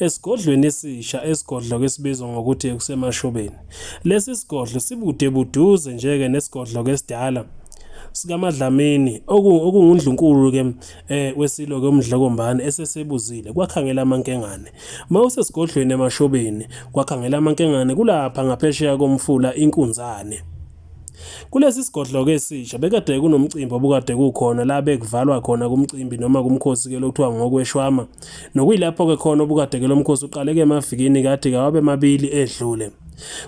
Esigodlweni esisha esigodlo ke sibizwa ngokuthi kusemashobeni. Lesi sigodlo sibude buduze njeke nesigodlo ke sidala sikaMadlamini okungundlunkulu ke eh wesilo ke umdlokombane esesebuzile kwakhangela amankengane mawusesigodlweni emashobeni kwakhangela amankengane kulapha ngaphesheya komfula inkunzane Kulesi sigodlo-ke esisha bekade kunomcimbi obukade kukhona la bekuvalwa khona kumcimbi noma kumkhosi-ke lo kuthiwa ngokweshwama nokuyilapho-ke khona obukade-ke lo mkhosi uqaleke emavikini kathi kawabe mabili edlule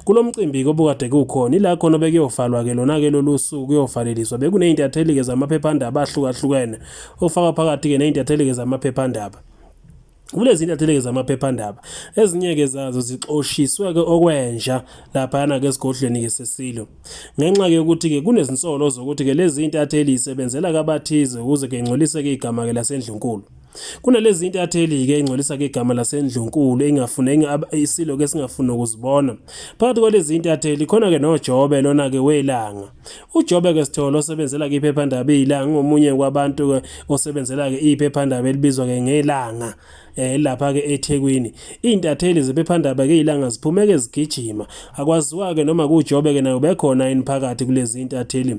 kulo mcimbi-ke obukade kukhona ila khona bekuyovalwa-ke lona-ke lolu suku kuyovaleliswa bekuney'ntatheli-ke zamaphephandaba ahlukahlukene okufaka phakathi-ke ney'ntatheli-ke zamaphephandaba Kulezi ntatheli-ke zamaphephandaba ezinye-ke zazo zixoshiswe-ke okwenja laphayana-ke esigodlweni-ke sesilo ngenxa-ke yokuthi-ke kunezinsolo zokuthi-ke lezi ntatheli yisebenzela-ke abathize ukuze-ke ingcoliseke igama-ke lasendlunkulu kunalezi ntatheli-ke ey'ngcolisa-ke igama lasendlunkulu engafune isilo-ke esingafuni nokuzibona phakathi kwalezi ntatheli khona-ke nojobe lona-ke welanga UJobeke Sithole osebenzela kwiphephandaba iLanga ngomunye kwabantu osebenzela ke iphephandaba elibizwa ke ngelanga eh lapha ke eThekwini intatheli zephephandaba ke ilanga ziphumeke ezigijima akwaziwa ke noma kujobe ke nayo bekhona eniphakathi kulezi intatheli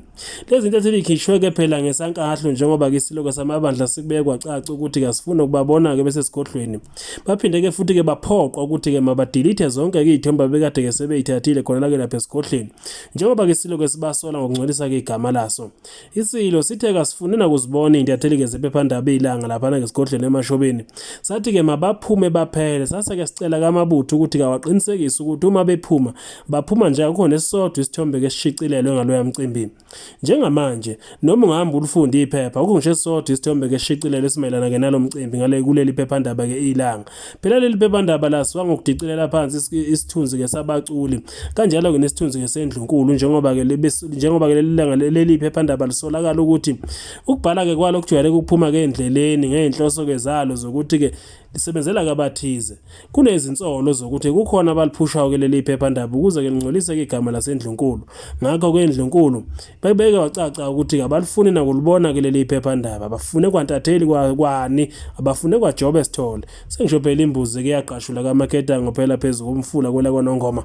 lezi intatheli ikhishwe ke phela ngesankahlo njengoba ke siloko samabandla sikubekwa caca ukuthi kasifuna ukubabona ke bese sigodlweni baphinde ke futhi ke baphoqwa ukuthi ke mabadelete zonke ke izithombe bekade ke sebeyithathile khona la ke lapha esigodlweni njengoba ke siloke sibasola ngokungcolisa ke igama laso isilo sithe kasifune nakuzibona intatheli ke zephephandaba ilanga laphana ke sigodlweni emashobeni sathi ke mabaphume baphele sase ke sicela kamabutho ukuthi kawaqinisekise ukuthi uma bephuma baphuma nje akukho nesisodwa isithombe ke sishicilelwe ngaloya mcimbi Njengamanje, noma ungahamba ulifunde iphepha, kukho ngisho esisodwa isithombe ngeshicilelo esimayelana ke nalo mcimbi ngale kuleli phephandaba ke ilanga. Phela leli phephandaba lasuka ngokudicilela phansi isithunzi ke sabaculi, kanjalo ke nesithunzi ke sendlunkulu njengoba ke njengoba ke leli langa leli phephandaba lisolakala ukuthi ukubhala ke kwalo kujwayele ukuphuma ke endleleni ngeenhloso ke zalo zokuthi ke lisebenzela kabathize. Kunezinsolo zokuthi kukhona abaliphushayo ke leli phephandaba ukuze ke lingcoliseke igama lasendlunkulu. Ngakho ke endlunkulu bebeke wacaca ukuthi kabalifuni nakulibona ke leli phephandaba. Bafune kwantatheli kwani, abafune kwaJobe Sithole. Sengisho phela imbuzi ke yaqashula kaMaketango phela phezu komfula kwela kwaNongoma.